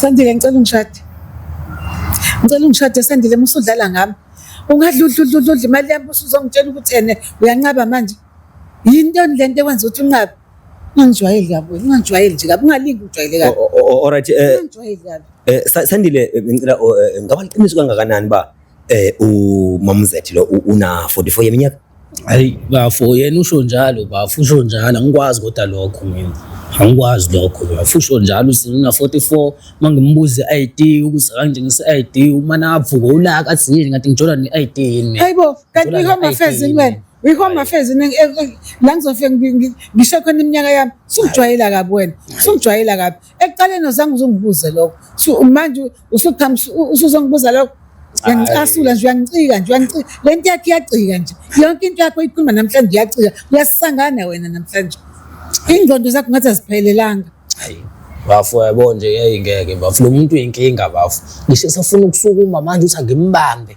Sandile ngicela ungishade. Ngicela ungishade Sandile musudlala ngami. Ungadla udla udla udla imali yami usuzongitshela ukuthi ene uyanqaba manje. Yinto lento ekwenza ukuthi unqabe. Ungangijwayeli kabi wena, ungangijwayeli nje kabi, ungalingi ungijwayele kabi. Alright eh Ungangijwayeli kabi. eh, Sa- Sandile eh, ngicela oh, eh, ngaba liqiniso kangakanani ba Eh uMamzethi lo una 44 yeminyaka? Hayi bafo yena usho njalo bafo usho njalo angikwazi kodwa lokho mina. Angikwazi lokho bafo usho njalo usina 44 mangimbuze ID ukuthi akangitshengise ID uma navuka ulaka sini ngathi ngijola ne ID yini. Hayibo kanti uyihoma affairs wena. Uyihoma affairs la ngizofika ngisho khona iminyaka yami sungijwayela kabi wena. Sungijwayela kabi. ekuqaleni uzange uzungibuze lokho so manje usuqhamu usuzongibuza lokho uyangicasula nje uyangicika nje uyangicika le nto yakho iyagcika nje yonke into yakho ikhuluma namhlanje iyagcika uyasisangana wena namhlanje ingqondo zakho ngathi aziphelelanga bafo yabo nje yayingeke bafo lo muntu uyinkinga bafo ngisho safuna ukusukuma manje uthi angimbambe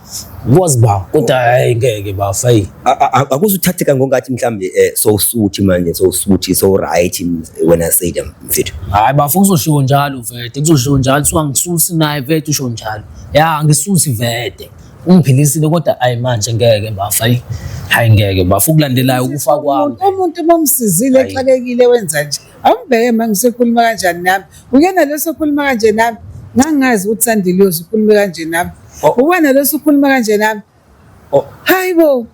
kwazi ba kodwa hayi ngeke ba fayi akuze uthatheka ngongathi mhlambe eh, so usuthi manje so usuthi so right when i say them mfethu hayi bafu kuzoshiwo njalo vete kuzoshiwo njalo so angisusi naye vete usho njalo ya angisusi vete ungiphilisile kodwa hayi manje ngeke bafa hayi ngeke bafa ukulandelayo ukufa kwami umuntu mamsizile exakekile wenza nje awumbheke ma ngisekhuluma kanjani nami uyena lo sokhuluma kanje nami ngangazi ukuthi sandile uyoze ukhulume kanje nami oh. uwena lo sokhuluma kanje nami oh. hayi bo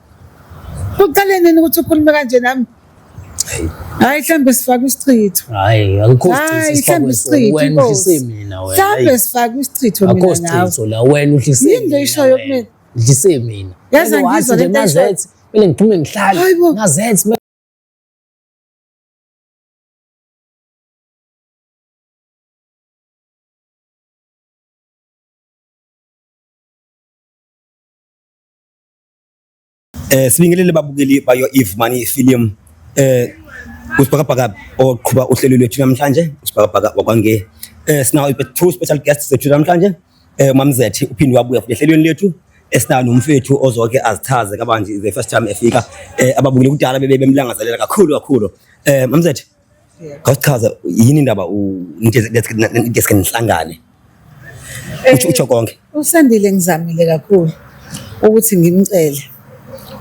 uqale nini ukuthi ukhulume kanje nami hayi mhlawumbe sifake isichitho hayi mhlawumbe sifake isichitho mina nawe wena uhlise yini le ishoyo kumina ngidlise mina yaze ngizwa le nto kumele ngiphume ngihlale ngazenzi Eh sibingelele babukeli bayo Eve Money Film eh usibhakabhaka oqhuba uhlelo lwethu namhlanje usibhakabhaka wakwange eh sinawo two special guests zethu namhlanje Eh mamzethi uphinde wabuya futhi ehlelweni lethu esinayo nomfethu ozoke azichaze kabanzi the first time efika eh ababukile kudala bebe bemlangazelela kakhulu kakhulu eh mamzethi Khawuchaza yini indaba u ndeske nihlangane. Uthi utsho konke. Usandile ngizamile kakhulu ukuthi ngimcele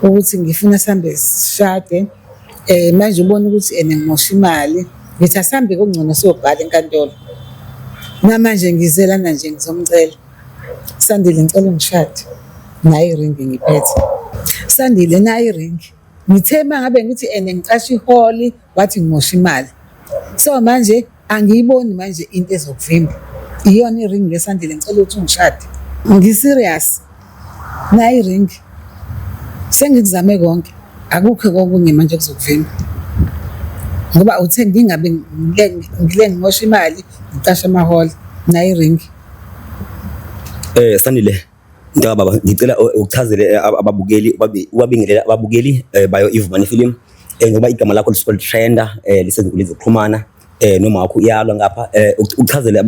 ukuthi ngifuna sihambe sishade um manje ubona ukuthi ena ngimosha imali ngithi asihambe kungcono siyobhala enkantolo namanje ngize lana nje ngizomcela sandile ngicela ungishade naye iringi ngiphethe sandile naye iringi ngithe uma ngabe ngithi ene ngicasha iholi wathi ngimosha imali so manje Angiyiboni manje into ezokuvimba. Iyona i-ring ngesandleni ngicela ukuthi ungishade. Ngi-serious. Nayi i-ring. Sengikuzame konke. Akukho kokunye manje okuzokuvimba. Ngoba uthe ngingabe ngile ngimosha imali, ngicashe amahora. Nayi i-ring. Eh Sanile. Mntaka baba ngicela uchazele eh, ababukeli ubabingelela ababukeli eh, bayo Ivumani Film eh, ngoba igama lakho lisuke litrenda lisezinkundleni zokuxhumana noma wakho uyalwa ngapha uchazele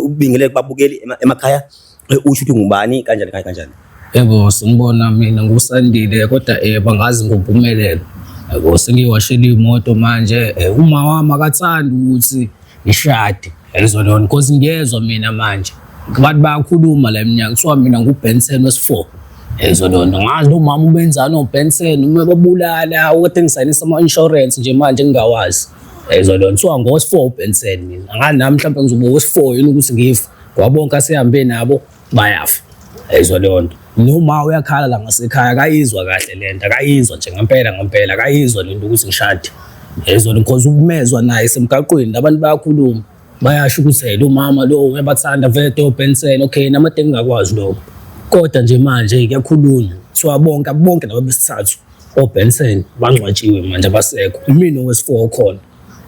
ubingelele kubabukeli emakhaya usho ukuthi ngubani kanjani kanjani. Yebo simbona mina ngusandile kodwa eh bangazi ngompumelelo. Yebo sengiwashela imoto manje uma wami akathandi ukuthi ngishade yalizwa lona cause ngiyezwa mina manje abantu bayakhuluma la eminyaka kuthiwa mina ngubenson wesi-four yalizwa lona ngazi nomama ubenzani obenson uma babulala okade ngisayinisa ama-insurance nje manje ngingawazi yalizwa lona kuthiwa ngowesi-four ubenson mina angazi nami mhlawumbe ngizoba wesi-four yini ukuthi ngive ngoba bonke asehambe nabo bayafa ayizwa leyo nto noma uyakhala la ngasekhaya akayizwa kahle le nto akayizwa nje ngempela ngempela akayizwa le nto ukuthi ngishade yayizwa because ukumezwa naye semgaqweni abantu bayakhuluma bayasho ukuthi lo mama lo uyabathanda vele tobhensela okay namadeke ngakwazi lokho kodwa nje manje kuyakhulunywa kuthiwa bonke bonke laba besithathu obhensen bangcwatshiwe manje abasekho imina owesifour khona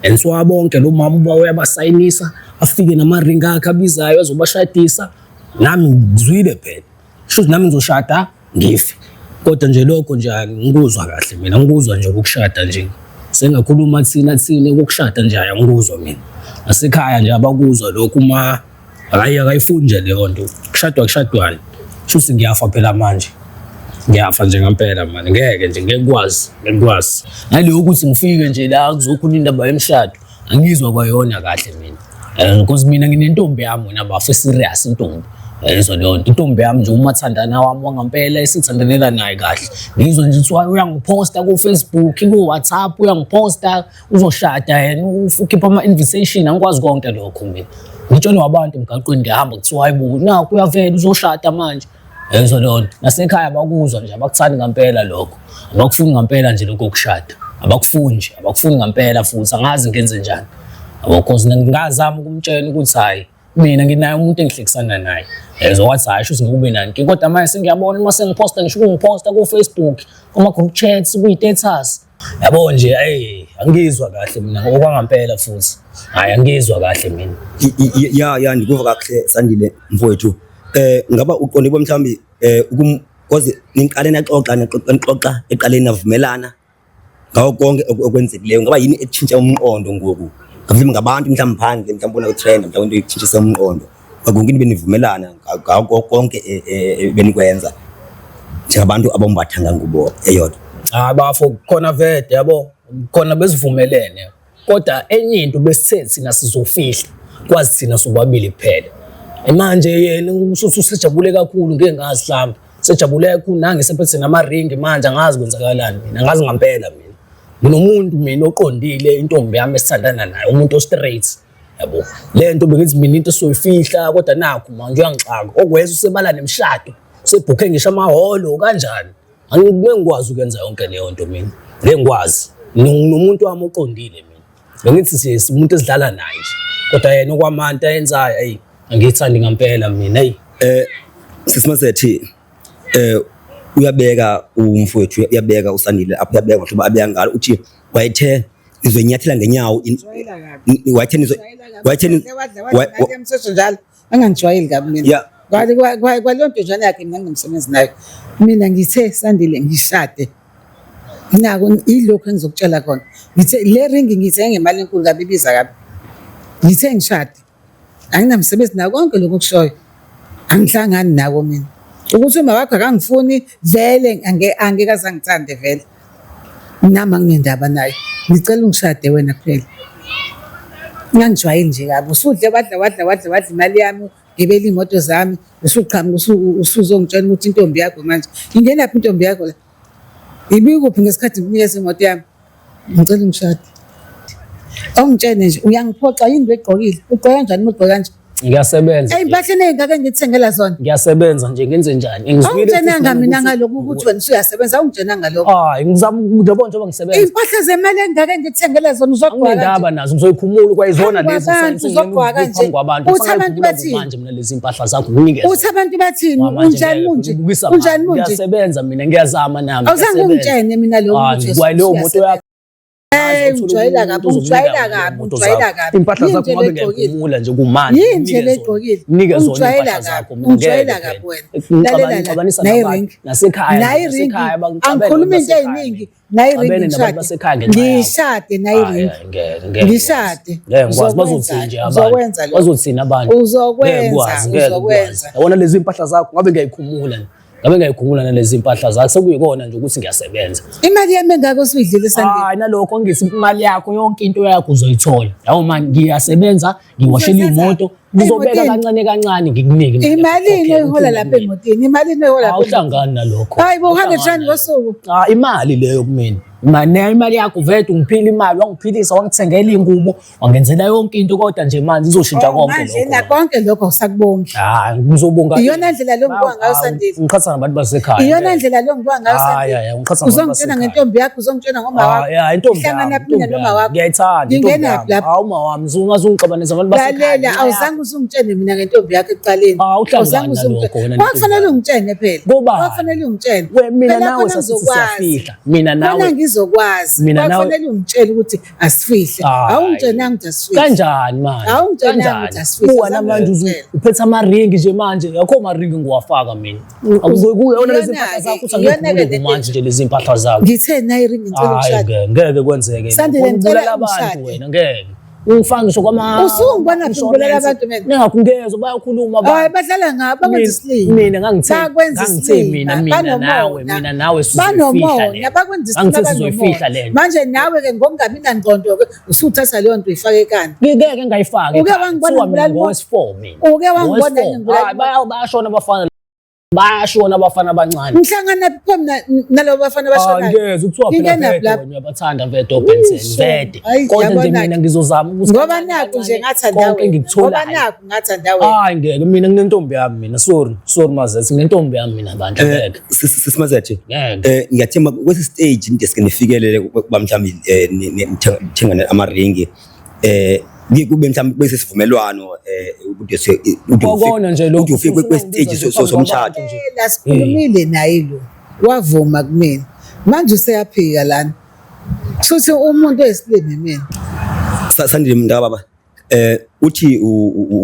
and so abonke lo mama uba uyabasayinisa afike namaringi akhe abizayo azobashadisa nami ngizwile phela shuthi nami ngizoshada ngife kodwa nje lokho nje angikuzwa kahle mina ngikuzwa nje ukushada nje sengakhuluma thina thina ukushada nje angikuzwa mina nasekhaya nje abakuzwa lokho uma Hayi akayifuni nje leyo nto. Kushadwa kushadwani. Shuthi ngiyafa phela manje. Ngiyafa nje ngempela manje. Ngeke nje ngeke kwazi, ngeke kwazi. Naleyo ukuthi ngifike nje la kuzokhona indaba yemshado. Angizwa kwayona kahle mina. Eh because mina nginentombi yami wena bafo serious intombi. Yayizwa leyo nto intombi yami nje umathandana wami wangampela esithandanela naye kahle ngizwa nje kuthiwa uyangiphosta ku-Facebook ku-WhatsApp uyangiphosta uzoshada yena ukhipha ama-invitation angikwazi konke lokho mina ngitshelwa abantu emgaqweni ngihamba kuthiwa hayi buku nakho uyavela uzoshada manje yezwa leyo nto nasekhaya abakuzwa nje abakuthandi ngampela lokho abakufuni ngampela nje lokho kushada abakufuni nje abakufuni ngampela futhi angazi ngenze njani yabo cause ngingazama ukumtshela ukuthi hhayi mina nginaye umuntu engihlekisana naye yezwa wathi hhayi shuthi ngikube nanki kodwa manje sengiyabona uma sengiphosta ngisho ukungiphosta kufacebook kuma-group chats kuyi-status yabo nje hey angizwa kahle mina okwangampela futhi hayi angizwa kahle mina ya ya ndikuva kahle sandile mfowethu eh ngaba uqonde bo mhlambi eh ukum kwazi niqale naxoxa nixoxa eqaleni navumelana ngawo konke okwenzekileyo ngaba yini etshintsha umqondo ngoku ngabantu mhlawumbe phandle mhlawumbe bona ku-trend mhlawumbe into itshintsha umqondo Kwakunke benivumelana ngako konke e, e, e, benikwenza njengabantu abambathanga ngubo eyodwa. Cha ah, bafo khona vede yabo khona besivumelene kodwa enye into besithe thina sizofihla kwazi thina sobabili kuphela. Manje yena ususu usejabule kakhulu ngeke ngazi mhlawumbe sejabule kakhulu nange sephethe namaringi manje angazi kwenzakalani mina angazi ngampela mina. Nginomuntu mina oqondile intombi yami esithandana naye umuntu o straight. yabo le nto bengithi mina into soyifihla kodwa nakho manje uyangixaka okweza usebala nemshado usebhukhe ngisho amahholo kanjani angikube ngikwazi ukwenza yonke leyo nto mina ngeke ngikwazi nomuntu wami oqondile mina bengithi siye umuntu esidlala naye nje kodwa yena okwamanta yenzayo ayi angiyithandi ngampela mina ayi eh sisimasethi eh uyabeka umfowethu uyabeka usandile apho uyabeka ngoba abeka ngalo uthi wayethe ngizonyathela ngenyawo wayethe wayethe njalo angangijwayeli kabi mina kwaleyo ntojwana yakhe mina ngingumsebenzi nayo mina ngithe sandile ngishade nako ilokhu engizokutshela kona ngithe le ringi ngithe ngemali enkulu kabi ibiza kabi ngithe ngishade anginamsebenzi nayo konke lokhu okushoyo angihlangani nako mina ukuthi uma wakho akangifuni vele angeke aze angithande vele nami anginendaba naye ngicela ungishade wena kuphela ngangijwayeli nje kabi usudle wadla wadla wadla wadla imali yami gebela iy'moto zami usuqhamuka usuzongitshela ukuthi intombi yakho manje ingenaphi intombi yakho la Ibikuphi ngesikhathi ngikunikeza imoto yami? Ngicela ungishade. Awungitshene nje uyangiphoxa yini begqokile? Ugqoka kanjani uma ugqoka kanje? Ngiyasebenza. Ey impahla enengaka ngithengela zona. Ngiyasebenza nje ngenze njani? Ngizwile. Awungitshena mina ngalokho ukuthi wena usuyasebenza awungitshena ngalokho. Hayi ngizama njengoba njengoba ngisebenza. Impahla zemali engaka ngithengela zona uzogqoka. Awunendaba nazo ngizoyikhumula kwayizona lezi. Uzogqoka nje. Uthi abantu bathi lezi mpahla zakho nginikeze uthi abantu bathini unjani munje unjani munje ngiyasebenza mina ngiyazama nami awuzange ungitshene mina lo muntu kwaye leyo moto yakho eh, ujwayela kabi ujwayela kabi ujwayela kabi impahla zakho ngabe ngiyagumula nje kumanje yini nje legqokile nike zona impahla zakho ujwayela kabi wena lalela naye ring nasekhaya naye ring angikhuluma into eziningi nayi ring Abene nabantu basekhaya ngishade ngenxa yakho. ngishade nayi Hhayi, ring hhayi, ngeke, ngeke, ngeke. ngishade Ngeke ngikwazi bazothini nje abantu uzokwenza lokho bazothini abantu Ngeke uzokwenza ngikwazi, ngeke ngikwazi. uzokwenza yabona lezi mpahla zakho ngabe ngiyayikhumula nje. ngabe ngiyayikhumula nalezi mpahla zakho sekuyikona nje ukuthi ngiyasebenza imali yami engako suyidlile sandile hayi nalokho ngisi imali yakho yonke into yakho uzoyithola yawo mani ngiyasebenza ngiwashela imoto ngizobeka kancane kancane ngikunike imalini oyihola lapha emotini imalini oyihola lapha awuhlangani nalokho hayi bo 100 rand ngosuku ah imali leyo kumina mane imali yakho vete ungiphila imali wangiphilisa wangithengela ingubo wangenzela yonke into kodwa nje manje izoshintsha oh, konke lokho manje konke lokho usakubongi hayi ah, ngizobonga iyona ndlela lo ngibonga ngayo sandile ngiqhatha nabantu basekhaya iyona ndlela lo ngibonga ngayo sandile hayi hayi ngiqhatha nabantu uzongitshela ngentombi yakho uzongitshela ngomawakho ah, hayi intombi yakho hlangana mina nomawakho ngiyayithanda intombi yakho hawu mawami Uzungixabanisa abantu basekhaya. Lalela awuzange uzungitshene mina ngentombi yakho ekuqaleni. Ah, awuzange uzungitshene. Kwakufanele ungitshene phela. Ngoba kwakufanele ungitshene. Mina nawe sasizofihla. Mina nawe. Mina ngizokwazi. Mina nawe. Kwakufanele ungitshele ukuthi asifihle. Ah, Awungitshenanga ukuthi asifihle. Kanjani manje? Awungitshenanga ukuthi asifihle. Uwa namanje uphethe ama ring nje manje. Yakho ama ring ngiwafaka mina. akuyona lezimpahla zakho uthi angiyeke manje nje lezimpahla zakho ngithe nayi ring ngicela ukushada ngeke kwenzeke sandile ngicela abantu wena ngeke ungifaka ngisho kwama usungibona ngibulala abantu mina ningakungezwa bayakhuluma ba hayi badlala ngabo bakwenza isilima mina ngangithe ngangithe mina mina nawe mina nawe sizofihla le bakwenza isilima manje nawe ke ngokungabi nangqondo ke usuthatha leyo nto uyifake kani ngeke ngayifaki uke wangibona mina ngowesifo mina uke wangibona ngibulali bayashona abafana bayashona abafana abancane ngihlangana pho mina nalabo bafana abashona ngeke ukuthiwa phela lapho ngiyabathanda vedo Benson vede kodwa nje mina ngizozama ukuthi ngoba naku nje ngathanda konke ngikuthola ngathanda wena hayi ngeke mina nginentombi yami mina sorry sorry mazethe nginentombi yami mina bandla eh, ngeke sisimazethe ngeke eh, ngiyathemba kwesi stage ndeske nifikelele kuba mhlawumbi eh, nithengane amaringi eh kube mhlawumbe bese sivumelwano eh ukuthi ukona nje lokho ufike kwe stage somshado nje lasikhulumile naye lo wavuma kumina manje useyaphika lana futhi umuntu oyisilimi mina sasandile mntaka baba Eh uthi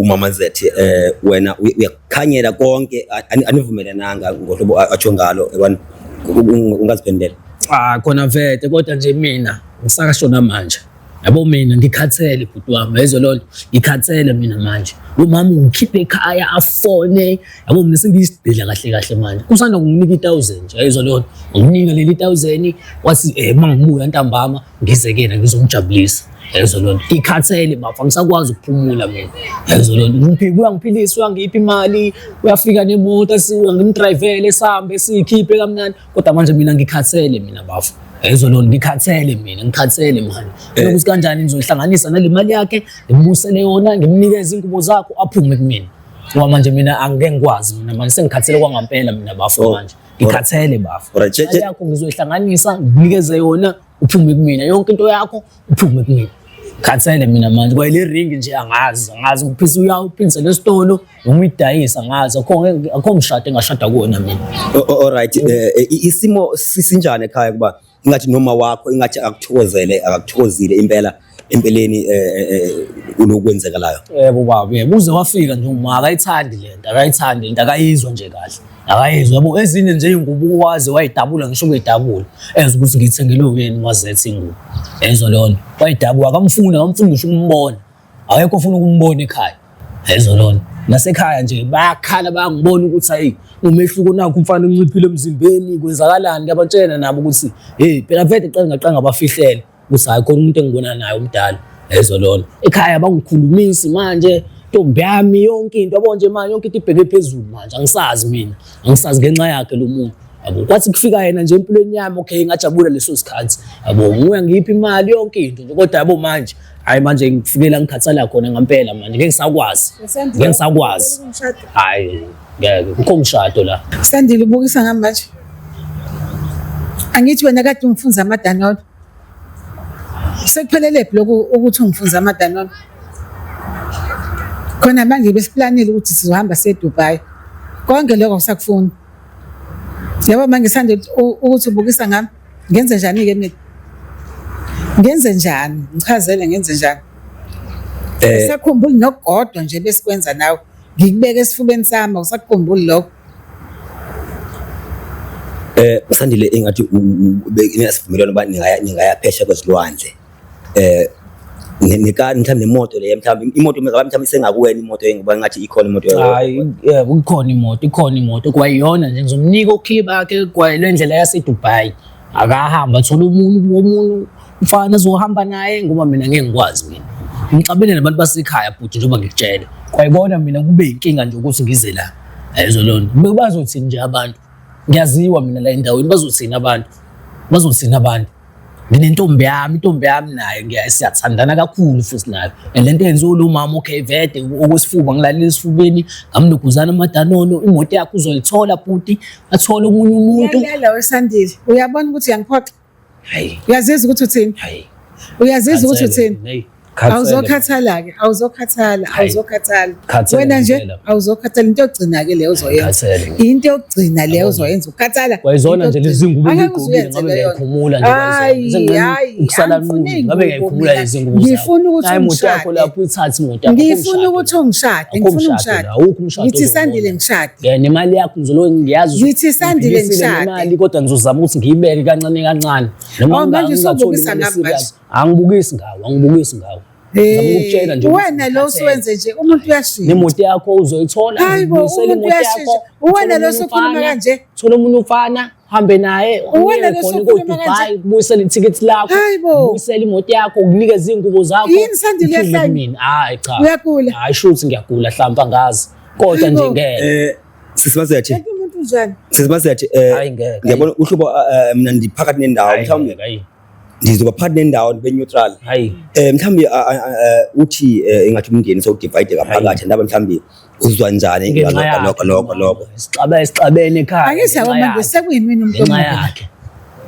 umama Zethi eh wena uyakhanyela konke anivumelananga ngohlobo atsho ngalo yabona ungaziphendela. Ah khona vete kodwa nje mina ngisakashona manje. Yabo mina ngikhathele bhuti wami yezwa lolo ngikhathele mina manje. Umama ungikhiphe ekhaya afone yabo mina sengiyisidila kahle kahle manje. Kusanda kunginika i1000 nje yezwa lolo. Unginika leli 1000 wathi eh mangibuya ntambama ngize kena ngizomjabulisa yayizo loo nto ngikhathele bafa ngisakwazi ukuphumula mina yayizo loo nto uyangiphilisa uyangipha imali uyafika nemoto asiwa ngimdrayivele sihambe siyikhiphe kamnandi kodwa manje mina ngikhathele mina bafa yayizo loo nto ngikhathele mina ngikhathele mani eh. lokuthi kanjani ngizoyihlanganisa nale mali yakhe ngimubusele yona ngimnikeze ingubo zakho aphume kumina ngoba manje mina angike ngikwazi mina manje sengikhathele kwangampela mina bafo oh. manje ngikhathele bafo Alright, che- che- yakho ngizoyihlanganisa nginikeze yona uphume kumina yonke into yakho uphume kumina khathele mina manje kwaye le ring nje angazi angazi uphisa uyawuphindisa lesitolo noma uyidayisa angazi akho akho mshado engashada kuwona mina O- o- Alright, eh, eh, i- isimo si- sinjani ekhaya kuba ingathi noma wakho ingathi akuthokozele akuthokozile impela empeleni eh, eh, eh, unokwenzekalayo yebo baba yebo uze wafika nje uma akayithandi lento akayithandi lento akayizwa nje kahle akayizwa yabo ezinye nje ingubo waze wayidabula ngisho kuyidabula ezwe ukuthi ngithengile uyeni wazethe ingubo ezwa leyo nto wayidabula akamfuni akamfuni ngisho ukumbona awekho ofuna ukumbona ekhaya ezolona nasekhaya nje bayakhala bayangibona ukuthi hayi umehluko nakho umfana unciphile emzimbeni kwenzakalani kuyabatshena nabo ukuthi hey phela vele qanga qanga bafihlele ukuthi hayi khona umuntu engibona naye umdala ezolona ekhaya bangikhulumisi manje ntombi yami yonke into yabo nje manje yonke into ibheke phezulu manje angisazi mina angisazi ngenxa yakhe lo muntu yabo kwathi kufika yena nje empilweni yami okay ngajabula leso sikhathi yabo nguya ngiphi imali yonke into nje kodwa yabo manje hayi manje ngifikela ngikhathala khona ngempela manje ngeke ngisakwazi ngeke ngisakwazi hayi ngeke kukho umshado la sandile ubukisa ngami manje angithi wena kade ungifunza amadanono sekuphelelebhi lokhu ukuthi ungifunza amadanono khona manje besiplanile ukuthi sizohamba sedubai konke lokho kusakufuna yabo manje ngisande ukuthi ubukisa ngami ngenze njani-ke mina ngenze njani ngichazele ngenze njani eh. usakhumbuli nokugodwa nje besikwenza nawe ngikubeke esifubeni sami usakhumbuli lokho eh usandile engathi ngiyasivumelana uba ningaya ningaya phesha kwezilwandle eh nekani mhlawumbe nemoto leyo mhlawumbe imoto mhlawumbe mhlawumbe isengakuwena imoto ngoba ngathi ikhona imoto yakho hayi eh, kukhona imoto ikhona imoto kwayiyona nje ngizomnika okhiye bakhe kwayile ndlela yaseDubai akahamba thola umuntu womuntu mfana zohamba naye ngoba mina ngeke ngikwazi mina ngixabene nabantu basekhaya bhuti njengoba ngikutshela kwayibona mina kube inkinga nje ukuthi ngize la ayizolona bebazothini nje abantu ngiyaziwa mina la endaweni bazothini abantu bazothini abantu nginentombi yami intombi yami naye ngiyasiyathandana kakhulu futhi nayo and lento yenziwa lo mama okay vede okwesifuba ngilalile esifubeni ngamnuguzana amadanono imoto yakhe uzoyithola bhuti athole omunye umuntu yala wesandile uyabona ukuthi uyangiphoxa hayi uyaziza ukuthi uthini hayi uyaziza ukuthi uthini awuzokhathala ke awuzokhathala awuzokhathala wena nje awuzokhathala into yokugcina ke leyo uzoyenza into yokugcina leyo uzoyenza ukhathala kwayizona nje lezi ngubo ngigqokile ngabe ngiyayikhumula nje hayi ukusala nqunu ngabe ngiyayikhumula lezi ngubo ngifuna ukuthi umshade lapho ithathi imoto yakho ngifuna ukuthi umshade ngifuna umshade awukho umshade ngithi sandile ngishade yeah nemali yakho ngizolo ngiyazi ngithi sandile ngishade imali kodwa ngizozama ukuthi ngiyibeke kancane kancane noma oh, manje usubukisa ngapha angibukisi ngawo angibukisi ngawo ngizokutshela nje wena lo siwenze nje umuntu uyashintsha nemoto yakho uzoyithola hayibo umuntu uyashintsha uwena lo sokhuluma kanje thola umuntu ufana hambe naye uwena lo sokhuluma kanje kubuyisela ithicket lakho kubuyisela imoto yakho ukunikeza izingubo zakho yini sandile yahlanya hayi cha uyagula hayi shuthi ngiyagula hlamba ngazi kodwa nje ngeke eh, sisibaze yathi umuntu njani sisibaze yathi eh, ngiyabona uhlubo eh, mina ndiphakathi nendawo mhlawumbe ndizoba phakathi nendawo ndibe neutral hayi eh mhlawumbi a- a- a- eh, uthi eh, ingathi umndeni sowudivide ngaphakathi ndaba mhlawumbi uzizwa njani ngenxa ngalokho yakhe nokho nokho nokho sixaba esixabene ekhaya ake ngenxa siyabona yakhe. nje sekuyimini umuntu ngenxa omubi yakhe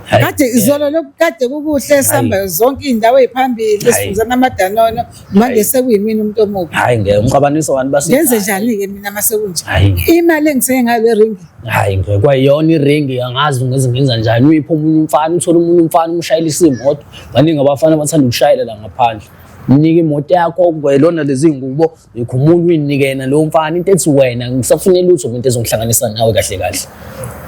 Hayi, kade eh, izolo lokukade kukuhle sihamba zonke iy'ndawo ey'phambili Hayi. sifunza namadanono manje Hayi. sekuyimini umuntu omubi hayi ngeke umqabaniso wani basi ngenze njani-ke mina uma sekunje Hayi. imali engisenge ngayo le ringi hayi ngeke kwayona iringi angazi ngeze ngenza njani uyiphi omunye umfana uthole umunye umfana umshayelisa imoto baningi abafana abathanda ukushayela la ngaphandle mnike imoto yakho kwelona lezi ngubo yikho umuntu uyinike yena lowo mfana into ethi wena ngisafune lutho umuntu ezongihlanganisa nawe kahle kahle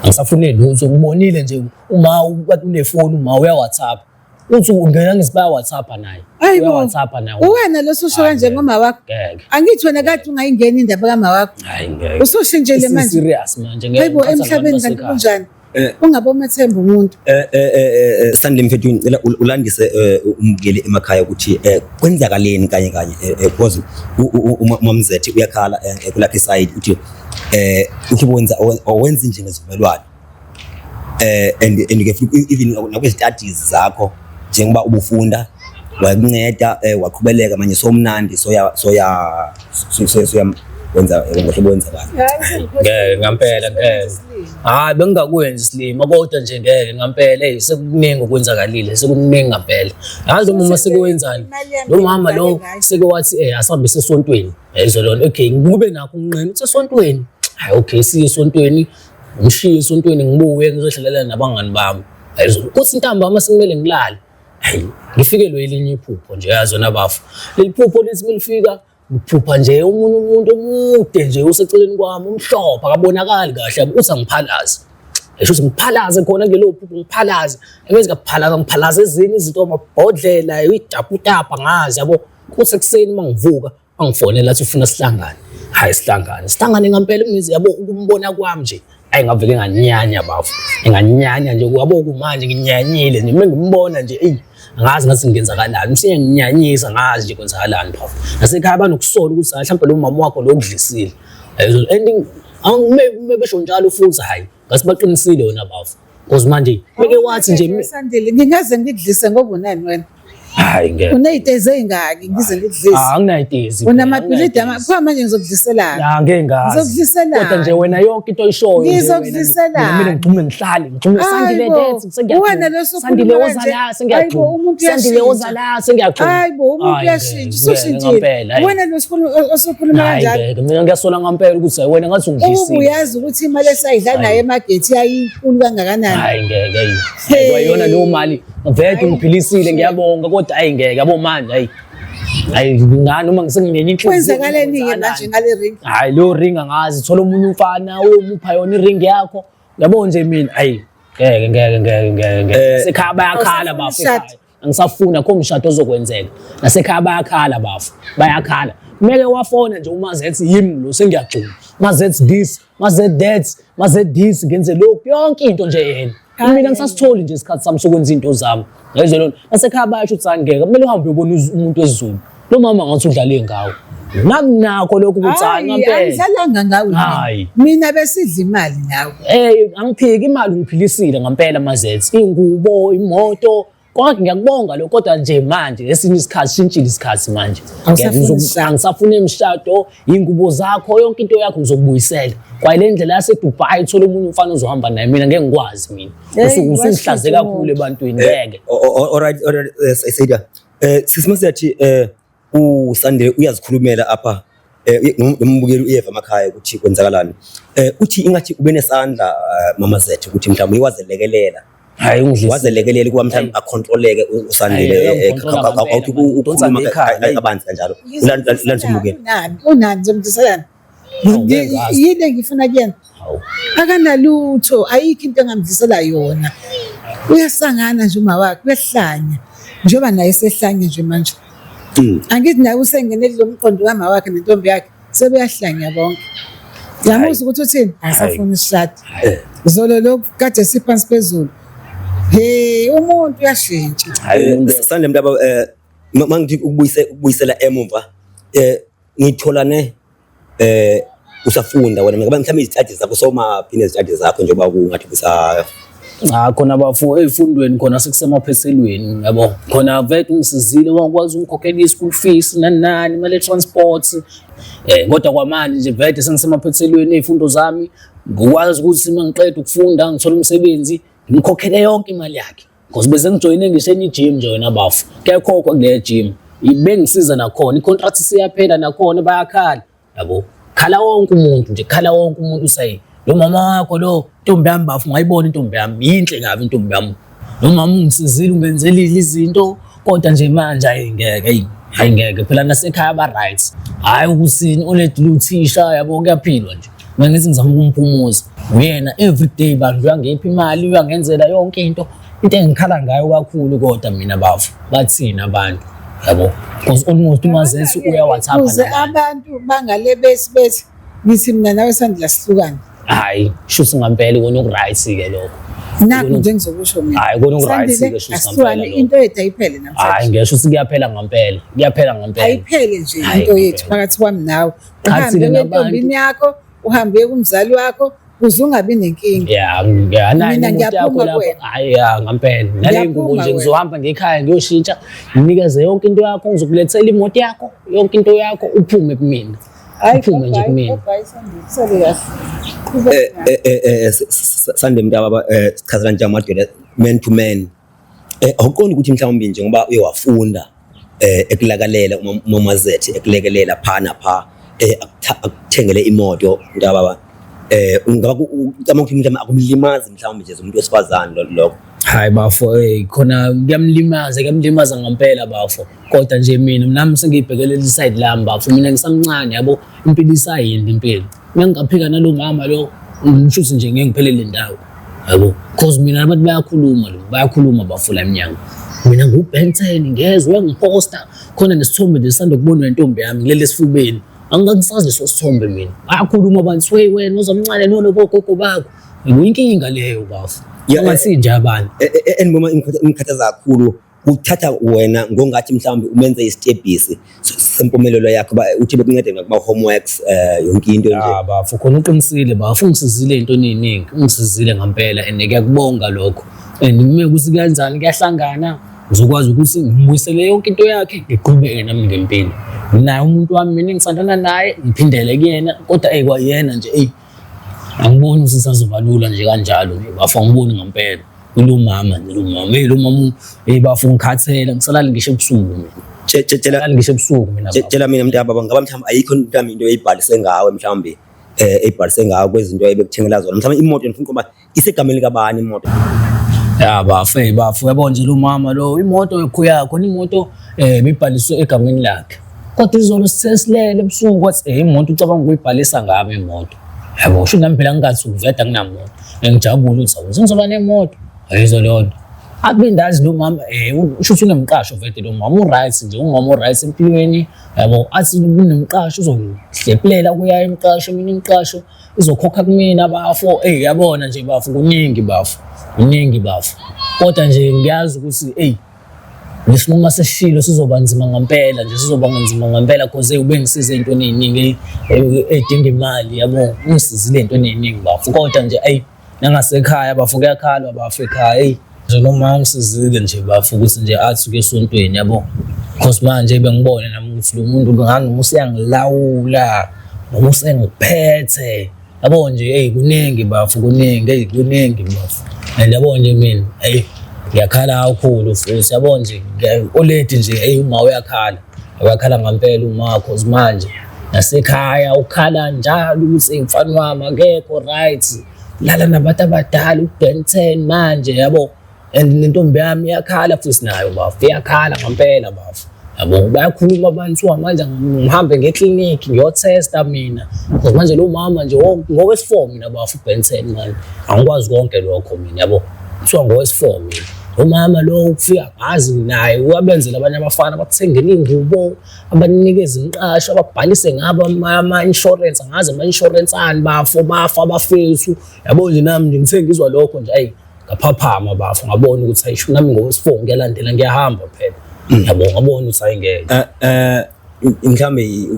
angisafune lutho ngibonile nje uma kade unefoni uma uya-whatsapp uthi ungena ngisibaya WhatsApp naye Hayi bo. WhatsApp naye Uwena lososho kanje ngoma wakho. ngeke Angithi wena kade ungayingeni indaba kama wakho. hayi ngeke Usoshintshele Isi- manje. serious manje ngeke Hayibo ngiphatha abantu emhlabeni kanti basekhaya. kunjani? Eh. Ungabomethemba umuntu. Eh, eh, eh, eh, eh, Sandile mfethu ngicela ul- ulandise eh, umukeli emakhaya ukuthi eh, kwenzakaleni kanye kanye eh, eh, because u- u- u- uma- umamzethi uyakhala eh, eh, kulakhe side uthi eh uthi wenza owenza nje ngezivumelwano eh and and ke futhi even nakwe studies zakho njengoba ubufunda wakunceda eh waqhubeleka manje so mnandi so ya so ya so so so ya wenza ngohlobo wenza kahle ngeke ngampela ngeke hayi bengingakwenzi silima kodwa nje ngeke ngampela hey sekuningi okwenzakalile sekuningi ngampela yazi umama sekwenzani lo mama lo seke wathi eh asihambise esontweni yayizwa lona okay ngikube nakho unqina usesontweni hayi okay siye esontweni ngishiye esontweni ngibuye ngizodlalela nabangani bami ayizolo kuthi ntambama sekumele ngilale ayi ngifikelwe elinye iphupho nje yazona bafo leli phupho lithi milifika ngiphupha nje umuntu umuntu omude nje useceleni kwami umhlophe akabonakali kahle uthi angiphalaze esho ukuthi ngiphalaze khona kulelo phupho ngiphalaze engenzi kaphalaza ngiphalaze ezinye izinto amabhodlela idaputapa ngazi yabo kuthi ekuseni mangivuka angifonela athi ufuna sihlangane hayi sihlangane sihlangane ngampela imizi yabo ukumbona kwami nje ayi ngavele nganyanya bafo nganyanya nje kwabo kumanje nginyanyile nje mengimbona nje eyi angazi ngathi ngenzakalani msinya nginyanyisa ngazi nje kwenzakalani bafo nasekhaya banokusola ukuthi hayi mhlawumbe lo mama wakho lo kudlisile and maybe besho njalo futhi hayi ngasibaqinisile yona bafo Cause manje ngeke wathi nje Sandile ngingaze ngidlise ngoba unani wena. Hayi ngeke. Uneyitezi ezingaki ngize ngidlise. Ah anginayitezi. Unamabhilidi amakhwa manje ngizokudliselana. Ya ngeke ngazi. Ngizokudliselana. Kodwa nje wena yonke into oyishoyo nje. Ngizokudliselana. Mina ngigxume ngihlale ngigxume Sandile dance sengiyathi. Wena losuku. Sandile oza la sengiyathi. Sandile oza la sengiyathi. Hayibo umuntu uyashintsha. Sushintshile. Wena lo sikhulu osokhuluma kanjalo. Hayi mina ngiyasola ngampela ukuthi wena ngathi ungidlisile. Ubu uyazi ukuthi imali esayidla naye emagethi yayinkulu kangakanani. Hayi ngeke yini. Kwayona leyo mali ngivele ngiphilisile ngiyabonga kodwa hayi ngeke yabo manje hayi. Hayi ngani noma ngisengingenye inhliziyo. Kwenzakaleni ke manje ngale ring? Hayi leyo ring angazi thola umunye umfana uyomupha yona iring yakho. Yabo nje mina hayi ngeke ngeke ngeke ngeke. Eh, Sekhaya bayakhala bafo. angisafuni akho mshado ozokwenzeka nasekhaya bayakhala bafo bayakhala kumele wafona nje uma zethi yimi lo sengiyagcuma ma zethi this ma zethi that ma zethi this ngenze lokhu yonke into nje yena mina ngisasitholi nje isikhathi sami sokwenza izinto zami ngezwe lona nasekhaya bayasho ukuthi angeke kumele uhambe uyobona umuntu wezulu Lo mama ngathi udlale ngawo. Nami nakho lokhu kutsana ngempela. Angidlalanga ngawe. Hayi. Mina besidla imali nawe. Eh angiphiki imali ngiphilisile ngempela mazethe. Ingubo, imoto, kodwa ngiyakubonga lokho kodwa nje manje esinye isikhathi shintshile isikhathi manje angisafuni emshado ingubo zakho yonke into yakho ngizokubuyisela kwaye le ndlela yasedubai uthole omunye umfana ozohamba naye mina ngeke ngikwazi mina usuke usungihlaze kakhulu ebantwini ngeke eh, alright alright eh, Eh sisi masiyathi eh usande uyazikhulumela apha eh nombukeli uyeva amakhaya ukuthi kwenzakalani. Eh uthi ingathi ubenesandla eh, mama zethu ukuthi mhlawumbe iwazelekelela. Hayi ungidlisa. Wazelekelela ukuba mhlawumbe acontroleke u- usandile Hayi, eh, uyamucontrola ka- ka- ka- ngempela. uthi u- Udonsa ukhuluma ngekhaya, ka- ka- hayi. kabanzi kanjalo. Ulan- ulan- Ulandisa umbukeli. Unani? Unani? Zomdiselana. yini engifuna kuyena akanalutho ayikho into engamdlisela yona uyasangana nje uma wakhe uyahlanya njengoba naye sehlanye nje manje hmm. angithi naye usengene kulo mqondo wama wakhe nentombi yakhe sebeyahlanya bonke yamuzwa ukuthi uthini asafuna isishadi eh. zolo lokhu kade siphansi phezulu he umuntu uyashintsha sithanda le mntu eh, mangithi ukubuyisela emuva um Ngitholane eh usafunda wena ngoba mhlawumbe izitadi zakho somaphi nezitadi zakho njengoba kungathi kusa cha khona bafo ezifundweni khona sekusemaphethelweni yabo khona vele ungisizile wakwazi ukukhokhela i-school fees nani nani imali ye-transport eh kodwa kwamanje nje vele sengisemaphethelweni ezifundo zami ngikwazi ukuthi uma ngiqeda ukufunda ngithola umsebenzi ngimkhokhele yonke imali yakhe Because bese ngijoyine ngisho enye gym nje wena bafo. Kuyakhokwa kule gym. Ibengisiza nakhona, i-contract siyaphela nakhona bayakhala. Yabo. Khala wonke umuntu nje, khala wonke umuntu usayi. Lo mama wakho lo, intombi yami bafo, ngayibona intombi yami, yinhle kabi intombi yami. Lo mama ungisizile ungenzele izinto, kodwa nje manje ayi ngeke eyi hayi ngeke phela nasekhaya ba right hayi ukusini uledile uthisha yabo kuyaphilwa nje mina ngithi ngizama ukumpumuza uyena everyday bantu uyangipha imali uyangenzela yonke into into engikhala ngayo kakhulu kodwa mina bafo bathini abantu yabo because almost umazesi uya whatsapp abantu bangale besi besi Ngithi mina nawe sandla sihlukane. Hayi, shuthi ngampela kona ukuright ke lokho. Nakho nje ngizokusho mina. Hayi kona ukuright ke shuthi ngampela. Into yethu ayiphele namhlanje. Hayi ngisho ukuthi kuyaphela ngampela. Kuyaphela ngampela. Ayiphele nje into yethu phakathi kwami nawe. Uhambe entombini yakho, uhambe kumzali wakho, kuze ungabi nenkinga ya ngiyanayo umuntu yakho lapho hayi ya ngampela nale ngubo nje ngizohamba ngekhaya ngiyoshintsha nginikeze yonke into yakho ngizokulethela imoto yakho yonke into yakho uphume kumina Iphunga nje kumina. Eh eh eh, eh sande mntaba eh sichazela nje amadoda man to man. Eh awuqondi ukuthi mhlawumbe nje ngoba uye wafunda eh ekulakalela umazethi ekulekelela phana pha eh akuthengele imoto mntaba ba. Eh ungaba ucama ukuthi mhlawumbe akumlimazi mhlawumbe nje umuntu wesifazane lokho. Hayi bafo eh khona kuyamlimaza kuyamlimaza ngempela bafo. koda nje mina nami sengiyibhekele leli side lami bafo mina ngisamncane yabo impilo isayindi impilo uma ngingaphika nalo mama lo ngishuthi nje ngeke ngiphelele ndawo yabo cause mina abantu bayakhuluma lo bayakhuluma bafo la emnyango mina ngubenten ngezwe ngiposta khona nesithombe nje sisanda kubonwa intombi yami ngilele esifubeni angisazi leso sithombe mina bayakhuluma abantu swe wena uzomncane nono bogogo bakho yinkinga leyo bafo ungasinje abantu e, e, e, and noma imkhathaza kakhulu Uthatha wena ngongathi mhlawumbe umenze isitebhisi sempumelelo yakho uba uthi bekuncede ngakuma-homeworks um eh, yonke into nje ah, bafo khona uqinisile bafo ungisizile into eningi ungisizile ngampela and ngiyakubonga lokho and uma ukuthi kuyanjani kuyahlangana ngizokwazi ukuthi ngibuyisele yonke into yakhe ngiqhubeke nami ngempilo naye umuntu wami mina engisandana naye ngiphindele kuyena kodwa eyi kwayena nje eyi angiboni ukuthi sazoba lula nje kanjalo nje bafo angiboni ngempela kulomama nje lomama hey lomama hey bafo ngikhathele ngisalali ngisho ebusuku mina tshela ngisho ebusuku mina tshela mina mntu yababa ngaba mhlawumbe ayikho into yami into eyibhalise ngawe mhlawumbe eh ebhalise ngawe kwezinto ebekuthengela zona mhlawumbe imoto ngifuna ukuba Isegameni likabani imoto? Ya bafo, hey bafo, yabo nje lo mama lo imoto yokho yakho imoto eh bibhaliswe egameni lakhe. Kodwa izolo sisesilele ebusuku kwathi eh imoto ucabanga ukuyibhalisa ngami imoto. Yabo usho nami phela ngingathi ukuveda nginamoto. Ngijabule ukuthi awuze ngizoba nemoto. Ayizo leyo nto. Akundazi lo mama eh usho ukuthi unemqasho vete lo mama uright nje ungoma uright empilweni yabo athi kunemqasho uzohlephelela kuya emqasho mina imqasho izokhokha kumina bafo eyi yabona nje bafo kuningi bafo kuningi bafo kodwa nje ngiyazi ukuthi eyi lesinqumo sesishilo sizoba nzima ngempela nje sizoba nzima ngempela cause ube ngisize ey'ntweni ey'ningi edinga imali yabo ungisizile ey'ntweni ey'ningi bafo kodwa nje ayi Nangasekhaya bafo kuyakhalwa bafo ekhaya hey njenoma usizile nje bafo ukuthi nje athi uke esontweni yabo because manje bengibone nami ukuthi lo muntu ngangoma useyangilawula noma usengiphethe yabo nje hey kuningi bafo kuningi hey kuningi bafo and yabo nje mina hey ngiyakhala kakhulu futhi yabo nje oledi nje hey uma uyakhala Wakhala ngampela uma cause manje nasekhaya ukhala njalo ukuthi mfana wami akekho right. Lala nabantu abadala uBen 10 manje yabo. And nentombi yami iyakhala futhi nayo bafo iyakhala ngampela bafo. Yabo bayakhuluma abantu wa manje ngihambe ngeclinic ngiyotesta mina. Cause manje lo mama nje ngokwesifo mina bafo uBen 10 manje. Angikwazi konke lokho mina yabo. kuthiwa ngowesifo mina umama lo ukufika ngazi naye wabenzela abanye abafana abakuthengela iy'ngubo abanikeza imiqasho ababhalise ngabo ama-insurance angazi ama-insurance ani bafo bafa abafethu yabo nje nami nje ngise ngizwa lokho nje ayi ngaphaphama bafo ngabona ukuthi ayisho nami ngowesifo ngiyalandela ngiyahamba phela yabo ngabona ukuthi ayingeke mhlawumbe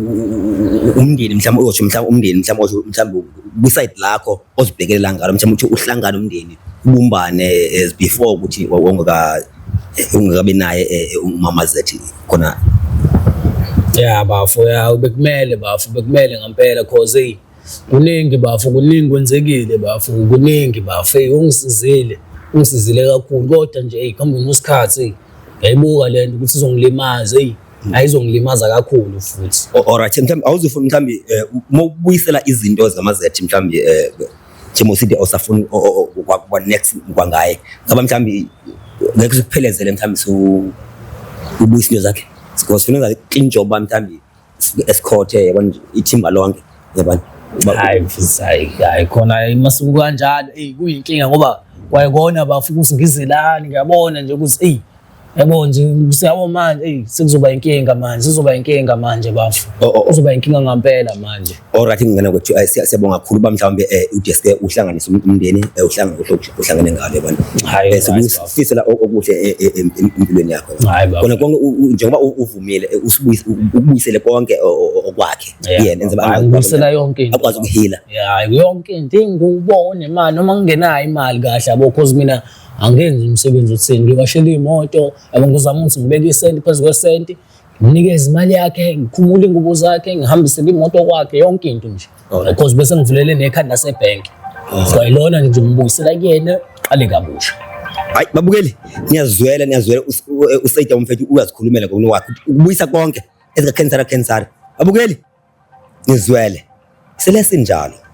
umndeni mhlawumbe uyosho mhlawumbe umndeni mhlawumbe osho mhlawumbe kwisayidi lakho ozibhekelela ngalo mhlawumbe ukuthi uhlangane umndeni ubumbane as before ukuthi wawungaka ungakabi naye eh, umama zethi khona ya bafo ya bekumele bafo bekumele ngampela cause hey kuningi bafo kuningi kwenzekile bafo kuningi bafo hey ungisizile ungisizile kakhulu kodwa nje hey kuhambeni kwesikhathi hey yayibuka lento ukuthi izongilimaza hey ayizongilimaza kakhulu futhi O- alright mhlawumbe awuzofuna mhlawumbe eh, uma ubuyisela izinto zamazethi mhlawumbe eh, Timo City awusafuni o- o- o- kwa- kwa next kwangaye ngaba mhlawumbe ngeke sikuphelezele mhlawumbe su ubuyisa into zakhe because funa ngathi clean job ba mhlawumbe si- esikhothe yabona nje, ithimba lonke yabona Uba- hayi mfisi hayi hayi khona hayi masuku kanjalo eyi kuyinkinga ngoba kwayekona bafukusi ngizelani ngiyabona nje ukuthi eyi Yabo nje siyabo manje ey sekuzoba inkinga manje sizoba inkinga manje bafo. Oh, oh, oh. Uzoba inkinga ngampela manje. Alright ngingena kwethu ay, siya- siyabonga kakhulu ba mhlawumbe eh, uDSP uhlanganise um- umndeni eh, uhlange- uhlo- uhlangene ngalo yabona. Hayi, Eh, right, Sikufisela o- okuhle eh, eh, em- em- empilweni yakho. Hayi, baba. Kona konke u- u- njengoba u- uvumile eh, usibuyis- u- u- ubuyisele konke o- o- o- okwakhe. Yeah, Yena enze baba. ba- Hayi, ubuyisela yonke into. Akwazi ukuhila. Yeah, yonke into ingubone manje noma ngingenayo imali kahle yabo cause mina angenzi umsebenzi otheni ngiwashela imoto yabo ngizama ukuthi ngibeke isenti phezu kwesenti nginikeze imali yakhe ngikhumule ingubo zakhe ngihambisele imoto kwakhe yonke into nje because bese ngivulele nekhanda sebhenki so ilona nje ngibuyisela kuyena qale kabusha hayi babukeli niyazwela niyazwela usayida umfethu uyazikhulumela ngokuno wakhe ukubuyisa konke ezikakhensara khensara babukeli nizwele selesinjalo